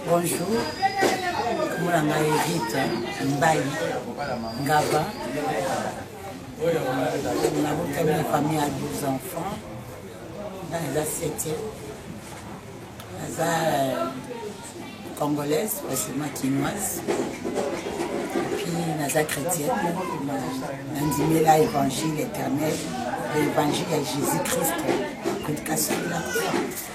Bonjour, komona ngai Rita Mbayi Ngaba, nabotami na famille ya 12 enfants, nga naza septième, naza euh, congolaise, pasima kinoise, puis naza chrétienne, nandimela évangile éternel, évangile ya Jésus-Christ, kotikasukila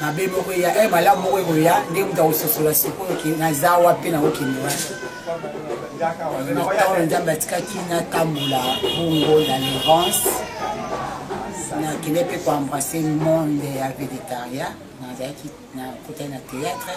mabe moko eya e malamu moko ekoya nde moto akososola sikoyo ke naza wapi nakokende wapi ntango nzambe atikaki natambola bongo na lerance nakende mpe koembrasse monde ya vegetariat nazalaki nakotaki na théâtre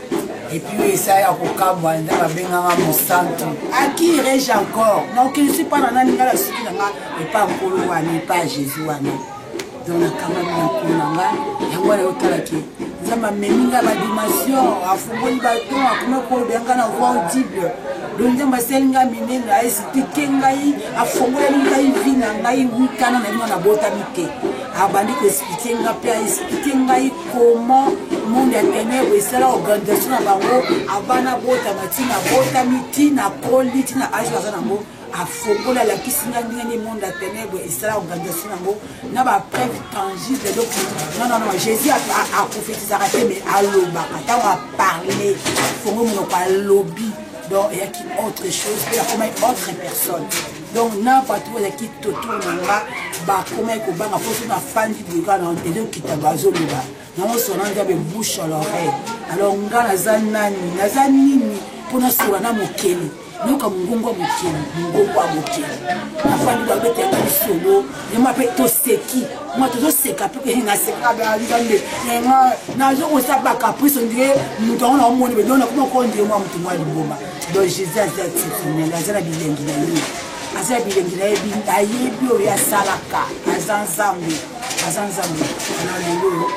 epuis esa ya kokabwa nde babenganga mosantu aki rege encore na okelisi mpa na nani ngai na suki na nga epa nkolo wana epa jésus wana donc nakamami na nkolo na nga yango wana yotalaki nzambe amemi nga badimension afungoli baton akomi koloba yanga na voi audible do nzambe asali nga minene aesitike ngai afongoleli ngai vi na ngai wikana na bino nabotami te abandi koesplike nga mpe aesplike ngai comment monde ya tenèbre esala organisation na bango abana botama ntina abotami ntina akoli ntina age aza nango afongoli alakisi nga ndenge nini monde ya tenèbre esala organisation nango na bapreuve tangible donc nonnono jésus aprofetisaka te mais alobaka ntango aparle fongo monoko alobi donc eyaki autre chose mpe akomaki autre personne donc na bato oyo ezalaki totour na nga bakomaki kobanga mpo so nafandi boyeka na ezokita bazoloba nango sona nzambe bouche à l'oreille alors nga naza nani naza nini mpo nasola na mokeli yoka mongongo ya mokeli mongongo ya mokeli nafandi babetaka lisolo yema mpe toseki mwa tozoseka mpe naseka nzambe nazokosaba caprice ondire moto yango naomoni bedona komakondire mwa moto mwa liboma donc jésus aza exceptionnel aza na bilengi na ye aza na bilengi na ye ayebi oyo asalaka aza nzambe aza nzambe na lelo oyo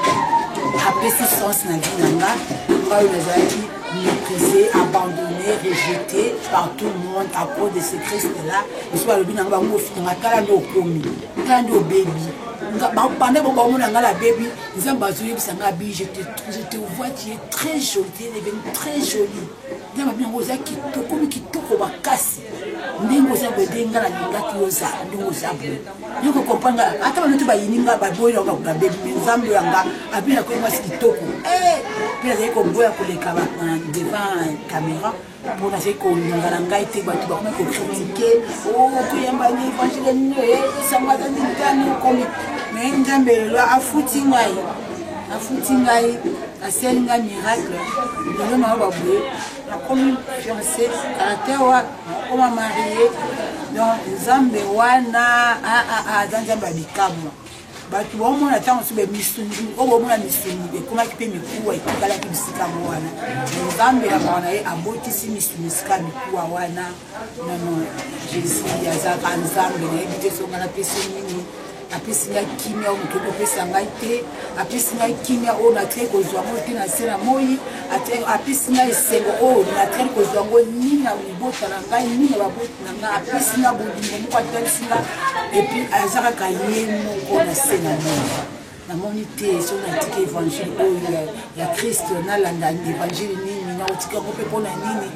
apesi sens na vie na nga ngai oyo nazalaki méprisé abandonné rejeté par tout le monde à cause de ce christ là biso balobi na nga bango ofinga tala nde okomi tala nde obebi banda bo bamona nga na bebi nzambe azoyebisa nga bi je te vois tu es très jolie elebeni très jolie nde babi yango oza kitokomi kitoko makasi ndenge oza boye nde nga nalingaki oza ndenge oza boye yo kokompranga ata banoki bayini nga baboyi na babebi me nzambe oyo yanga abina koyi mwasi kitoko eh, mpe nazali koboya koleka devant caméra mpo nazali kolinga na ngai te bato bakomi kokritike okoyamba oh, ni evangile nini esangaka ndintani okomi me nzambe lelo afuti ngai afuti ngai asali ngai miracle lelo na yo baboye nakomi fiance caractère wa nakoma marie donc nzambe wana ah, ah, ah, aza nzambe ya bikamwa bato baomona ntango mosusu bamisuni oyo baomona misuni ekomaki mpe mikuwa etikalaki bisika yango wana nzambe na mawa na ye abotisi misuni esika mikuwa wana nono jesus azalaka nzambe nayebi te songa napesi nini apesi ngai kimia oyo moto kopesa ngai te apesi ngai kimia oyo natikali kozwa yango te na se na moi apesi ngai esengo oyo natikali kozwa yango ni na libota na ngai ni na baboti na ngai apesi ngai bolingo moko atalisi ngai epuis aza kaka ye moko na se na moi namoni te soki natiki évangile oyo ya kristo nalanda évangile nini nakotika yango mpe mpo na nini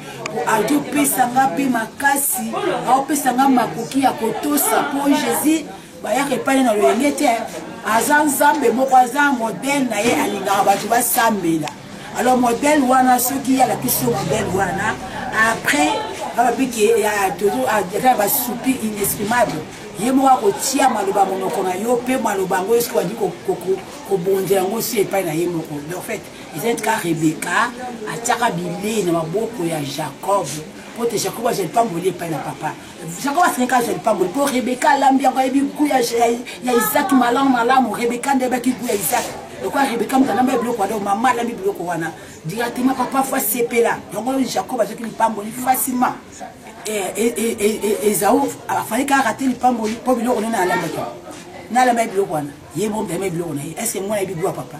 aopesa nga mpe makasi aopesa nga makoki ya kotosa mpo jésus bayaka epai na loyenge te aza nzambe moko aza modele na ye alingaka bato basambela alors modele wana soki alakisi yo modele wana après bababi ke ya basupi inexprimable ye moko akotia maloba monoko na yo mpe maloba yango eske wadi kobonza yango si epai na ye moko en fait ezali tika rebeka atiaka bilei na maboko ya jacob mpo te jacob azwa lipamboli epai na papa jacob asengeka azwa lipamboli mpo rebeka alambi yango ayebi gu ya isak malamu malamu rebeka nde ayebaki gu ya isak lokola rebeka moto alamba biloko wana mama alambi biloko wana directement papa fo asepela yango jacob azwaki lipamboli facilement ezao afali kaka ate lipamboli mpo biloko nene alambaki nalamba ye biloko wana ye bompema ye biloko na ye estce mwana yebi gwa papa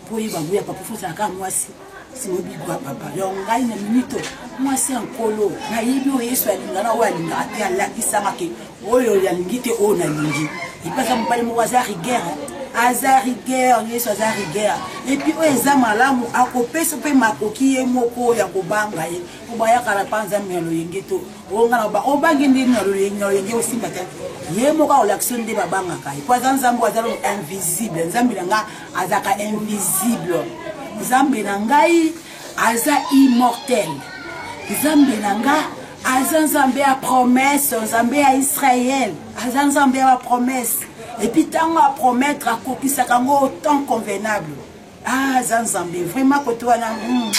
mpo ye bagu ya papa fosala kaka mwasi simoyebi gwa papa yo ngai na minito mwasi ya nkolo nayebi oyo yesu alinga na oyo alingaka te alakisama ke oyo yalingi te oyo nalingi epesa mobali moko aza rigere aza rigueur yesu aza rigueur epuis oyo eza malamu akopesa mpe makoki ye moko ya kobanga ye obayaka na panza mya loyenge to ongana obangi nde na loyenge osimba te ye moko akolakisa nde babangaka ye mpo aza nzambe aza lo invisible nzambe na ngai azalaka invisible nzambe na ngai aza immortel nzambe na ngai aza nzambe ya promese nzambe ya israele aza nzambe ya bapromese epuis ntango apromettre akokisaka yango temps convenable ah aza nzambe vraiment kote wana hmm.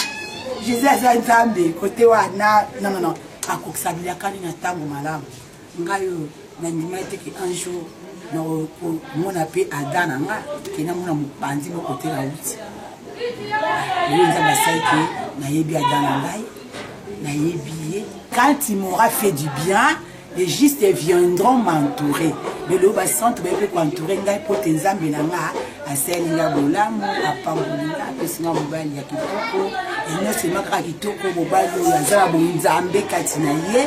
jesus aza nzambe kote wana nonono akokisa bilakani na ntango malamu ngai oyo nandima ete ke un jour nakomona mpe ada na nga ke namona mopanzi moko te nauti oyo nzambe asali ke nayebi ada na ngai nayebi ye quand il m'aura fait du bien les justes viendront m'entourer lelo basantu baye mpe koentoure ngai mpo te nzambe na nga asali nga bolamu apamboli nga apesi nga mobali ya kitoko nyonso ema kaka kitoko mobali oyo aza na bonzambe kati na ye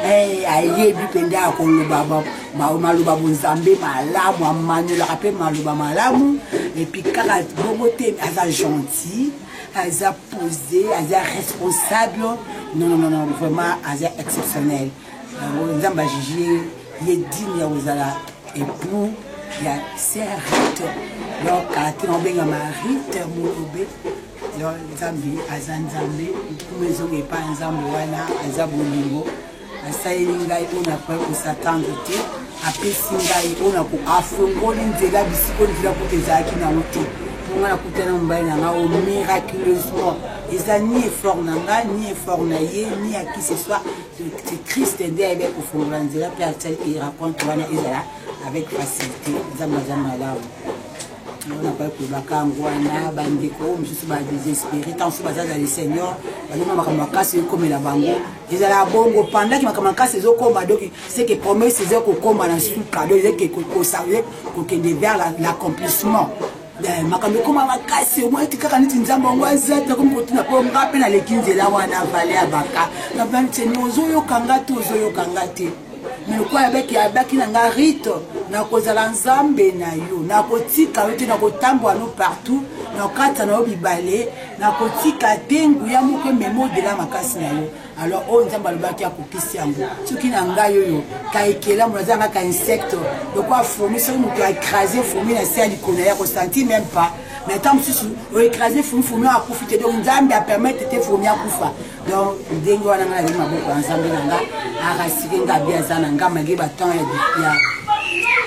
eh, ayebi mpenza ya koloba maloba bonzambe malamu amanyolaka mpe maloba malamu epuis kaka bongo te aza gentil aza posé aza responsable non non non vraiment aza exceptionnel yango nzambe ajije ye digne ya kozala époux ya sœur rite donc ati na obenga ma rite molobe donc nzambe aza nzambe nkuma ezonga epai nzambe wana aza bolingo asaleli ngai oyo nakoki kosatendre te apesi ngai oyo nako afongoli nzela bisiko nzela kutu ezalaki nango te mpo ngai nakutana mobali na ngai o miraculeusement eza ni effort na ngai ni effort na ye ni ya qui ce soit christ nde ayebi kofongola nzela mpe asalaki raconte wana ezala avec facilité nzambe aza malamu wana bai kolobaka yango wana bandeko oyo mosusu badesespere ntango mosusu baza na le seigneur balonga makambo makasi ekomela bango ezala bongo pendaki makambo makasi ezokoma donc seke promesse eza kokoma na suka donc eza kokende vers l'accomplissement Eh, makambo ekoma makasi omonaki kaka neti nzambe yango aza te akomi kotuna mpo nga mpe naleki nzela wana vale ya baka na banteni ozoyoka nga te ozoyoka nga te me lokola abaki abaki na nga rite nakozala nzambe na yo nakotika yo te nakotambola no partout nakata na yo bibale nakotika te nguya moko emema odela makasi na yo alors oyo nzambe alobaki akokisi yango soki na ngai oyo ka ekelamu naza nanga ka insecte lokola fourmi soki moto aecrase fourmi na se ya likolo na ye akosanti meme pas na ntango mosusu oecrase fourmi fourmi oyo akufi te donc nzambe apermettre te fourmi akufa donc ndenge wana ngai nazali maboko ya nzambe na nga arasike nga abi aza na nga malgre batemp ya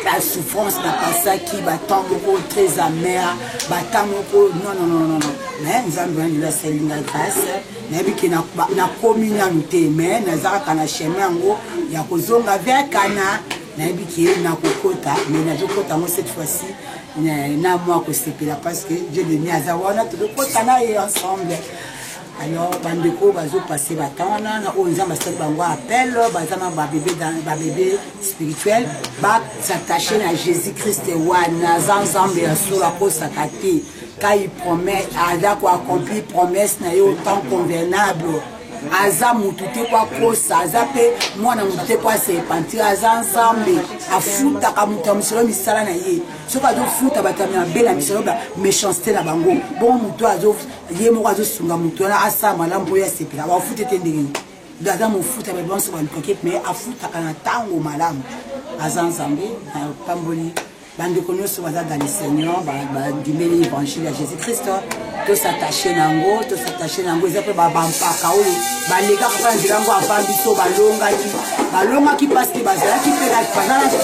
la souffrance na pasaki batemp moko très amère batemp moko non non non non mais nzambe wana nde asali ngai grâce nayebi ke nakomi nanu te mais naza kaka na chemin yango ya kozonga vers kana nayebi ke nakokota mais nazokota yango cette fois-ci na mwa kosepela parce que dieu de mi aza wana tokokota na ye ensemble alors bandeko oyo bazopase batemp wana na oyo nzambe asali bango appel baza na babebe spirituel basatache na jésus christ wana aza nzambe ya solo akosaka te Quand il promet, aza ko accomplir promesse na ye au temps convenable. aza mutu te po akosa aza mpe mwana motu te po asepantire aza nzambe afutaka moto ya mosolo misala na ye soki azofuta bato ya mabe na misolo ba méchanceté na bango bongo motu ye moko azosunga motu wana asala malamu mpo ye asepela bafute te ndenge nini aza mofuta bato banso baluka kete me afutaka na ntango malamu aza nzambe na pamboli bandeko nyonso baza dans le seigneur bandimeli évangile ya jésus christ tosattache na yango tosattache na yango eza mpe bampaka oyo balekaka mpe na nzela yango avant biso balongaki balongaki mpasi te bazalaki mpe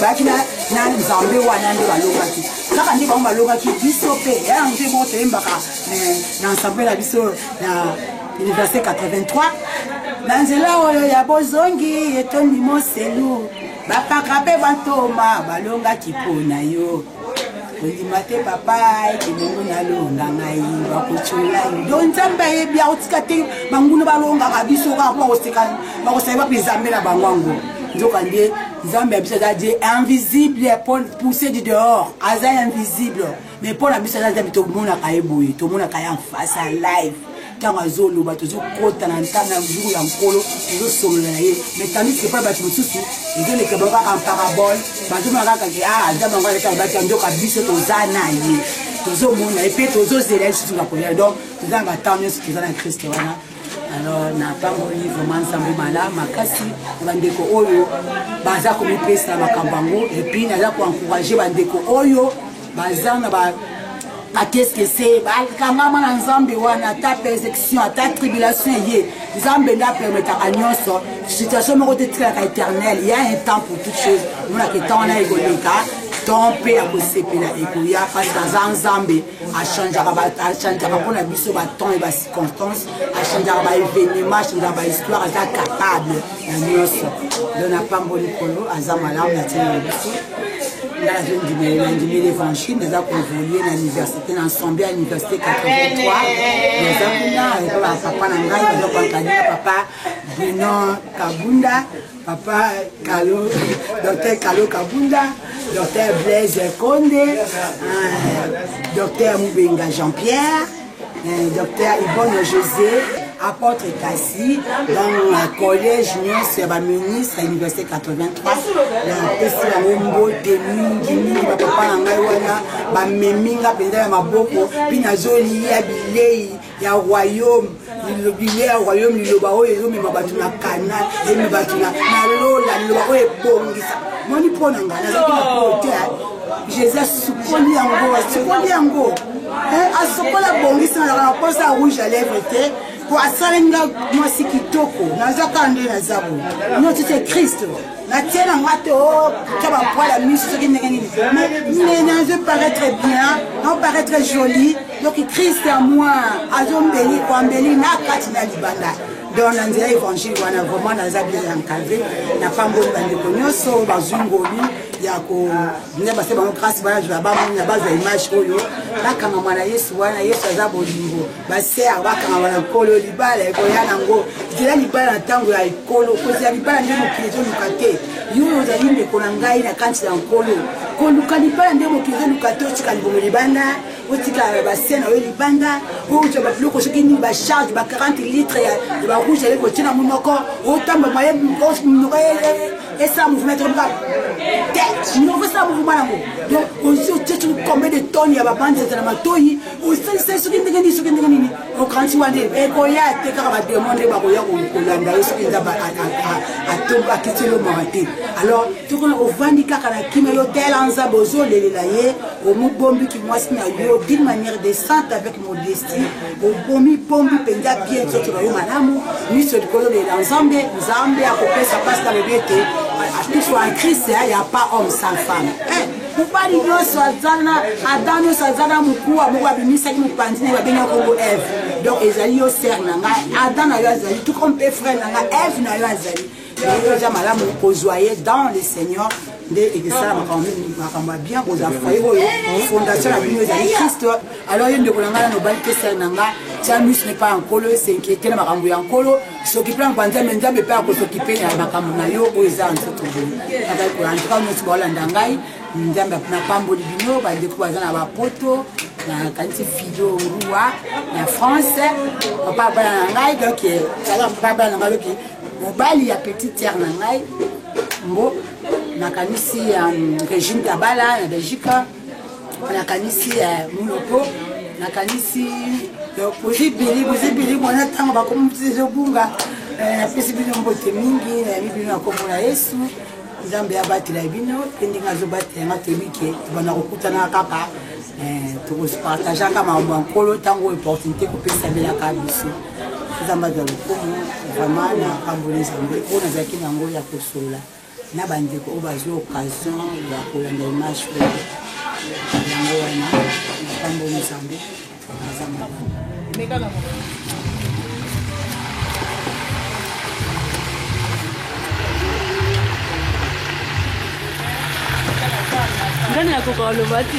bayaki na nzambe wana nde balongaki kaka nde bango balongaki biso mpe ya yango nde moko toyembaka na ensemble na biso na université 83 na nzela oyo ya bozongi etondi moselu bapaka mpe bantoma balongaki mpo na yo kondima te papa ete bongo nalonga ngai bakotyola yo do nzambe ayebi akotika te banguna balongaka biso kaka mpo bakosali bape nzambe na bango yango nzoka nde nzambe ya biso aza je invisible pour pousser du dehors aza invisible mais mpo na biso aza zabi tomonaka ye boye tomonaka ye en face ya live ntango azoloba tozokota na ntango ya jour ya nkolo tozosolola na ye mais tandis epai bato mosusu ezoleka bango kaka parabole bazomona kaka ke a aza bango aleka babaki ya ndoka biso toza na ye tozomona ye mpe tozozela ye lisusu na koya donc toza na batemp nyonso toza na kriste wana alors napamoli vraiment nzambe mala makasi na bandeko oyo baza komipesa na makambo yango epuis naza koencourage bandeko oyo baza na ba bakeskese bakangama na nzambe wana ata persecution ata tribulation eye nzambe nde apermetaka nyonso situation moko te tikalaka éternel ya un temps pour toute chose monaka etan wana ekoleka temps mpe ya kosepela ekoya parce que aza nzambe achangeaka achangeaka mpo na biso batemps e bacirconstance achangeaka baévénement achangeaka bahistoire aza capable ya nyonso don na pambo likolo aza malamu na ntina na biso nga nazondimele nandimi l'évangile naza koévolue na université na ensemble ya université 83 naza kuna epa bapapa na ngai baza koankadina papa bruno kabunda papa kalo docteur kalo kabunda docteur blaise konde euh, docteur mubenga jean pierre euh, docteur ibono josé apôtre kasi na collège nyonso ya baministre ya université 83 napesi yango mbote mingi mingi bapapa na ngai wana bamemi nga mpenza ya maboko mpe nazoliya bilei ya royaume liloba ya royaume liloba oyo ezomema bato na kana ezomema bato na lola liloba oyo ebongisa moni mpo na ngai nazalaki na pote jésus asukoli yango asukoli yango eh, asukoli abongisi nazalaka na mposa ya rouge à lèvre te po asali nga mwasi kitoko naza kaka nde naza bo notite kristo natie na nga te otya oh, bapwala miso soki ndenge nini mais nazo paraître bien nao paraître jolie donc christ ya moi azombeli koambeli na kati na libanda donc na nzela évangile wana vraiment naza bien encadre napamboli bandeko nyonso bazwi ngoli ya kobina base bango grâce bazwa bamona bazwa image oyo bakangama na yesu wana yesu aza bolingo baser bakangama na nkolo libala ekoya nango zela libala na ntango ya ekolo kozela libala nde mokili ezoluka te yo oyo ozali ndeko na ngai na kanti ya nkolo koluka libala nde mokili ezoluka te otika libomo libanda otika ba scène oyo libanda outa ba biloko soki nini ba charge ba 40 litre ya ba rouge avec otie na monoko otamba maye monoko esala mouvement tokomoka te monoko esala mouvement yango donc osi otie soki combien de tonne ya babande zata na matoi osalisa soki ndenge nini soki ndenge nini okanisi wana ekoya te kaka bademo nde bakoya kolanda yo soki eza atomba akiteli omaka te alors tokona ovandi kaka na kima yo tela nzambe ozolelela ye omobombi kimwasi na yo d'une manière décente avec modestie obomi bombi mpenza bien nzoto na yo malamu miso likolo lela nzambe nzambe akopesa mpasi na lobi ete atusu en christ ya pas homme sans femme eh, mobali nyonso aza na adam nyonso aza na mokuwa moko abimisaki mopanzi na ye babengi yango eve donc ezali yo sere na ngai adam na yo azali tuko mpe frere na ngai eve na yo azali yango eza malamu kozwa ye dans le seigneur nde ekesala makambo ya bien kozwa foye oyo fondation na bino ezali christ alors ye ndeko na ngai nanobali kesai na ngai tiamus ne pas ya nkolo esenkiete na makambo ya nkolo sokipe na banzambe nzambe mpe akosokipe na makambo na yo oyo eza ya nzoto boye azali koya ntuka nyonso baolanda ngai nzambe napamboli bino bandeko baza na bapoto nakanisi fido rua na france papa bana na ngai donc papa bana na ngai loki mobali ya petite sœur na ngai mbo nakanisi um, regime tabala na belgique nakanisi uh, muloko nakanisi euh, bozibili bozibili mwana ntango bakomizobunga euh, napesi bino mbote mingi nayebi bino na kombo na yesu nzambe abatela bino mpe ndenge azobatela nga toyebi ke bana kokutana kaka euh, tokopartageaka makambo ya nkolo ntango opportunité kopesamelaka biso nzambe azwa lokumu vraiment na pamboli nzambe oyo nazalaki na yango ya kosolola na bandeko oyo bazwi occasion ya kolanda image oyo yango wana na pamboli nzambe aza malamu nani akoka oloba te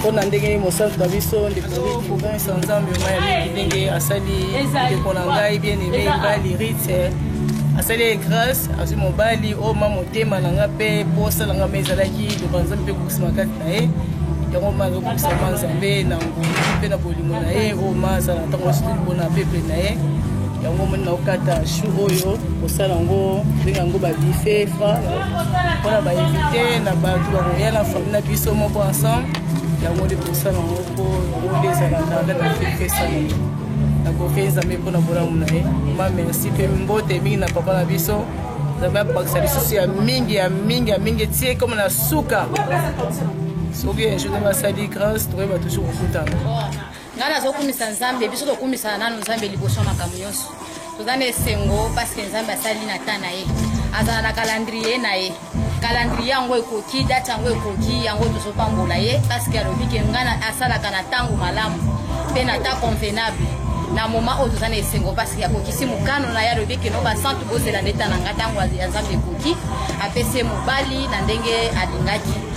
mpo na ndenge mosantu na biso ndeko province nzambe maya mingi ndenge asali ndeko na ngai bien aime ngai rite asali ye grâce azwi mobali oyo ma motema na nga mpe mpo osala nga mpe ezalaki loba nzambe mpe kokisama kati na ye yango ma azokokisama nzambe na ngolu mpe na bolingo na ye oyo ma azala ntango asili mpona peple na ye yango omoni naokata chou oyo kosala yango ndenge yango babife fra mpona bainvite na bato bakoya na fami na biso moko ensemble yango nde tosala yango mpo yango nde ezala ndanda na fefesana nakoki nzambe mpo na bolamu na ye ma merci mpe mbote mingi na papa na biso nzambe abakisa lisusu ya mingi ya mingi ya mingi etie ekoma na suka soki ejour nde basali grâce tokoyeba toujours kokutana ngai nazokumisa nzambe biso tokumisana nano nzambe liboso ya makambo nyonso toza na esengo parceke nzambe asali na ta na ye azala na kalandrie na ye kalandrie yango ekoki date yango ekoki yango tozopambola ye parceke alobi ke ngai asalaka na ntango malamu mpe na ta convenable na moma oyo toza na esengo parceke akokisi mokano na ye alobi keno basantu bozela ndeta na ngai ntango ya nzambe ekoki apesi ye mobali na ndenge alingaki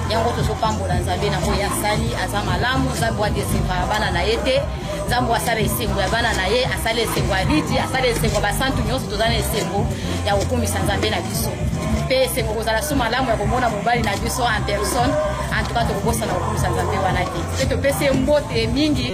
yango tozopambola nzambe na oyo asali aza malamu nzambe wadeseva ya bana na ye te nzambe asala esengo ya bana na ye asala esengo ya lidi asala esengo ya basantu nyonso toza na esengo ya kokumisa nzambe na biso mpe esengo kozala so malamu ya komona mobali na biso en personne en tout cas tokobosana kokumisa nzambe wana te mpe topesi ye mbote mingi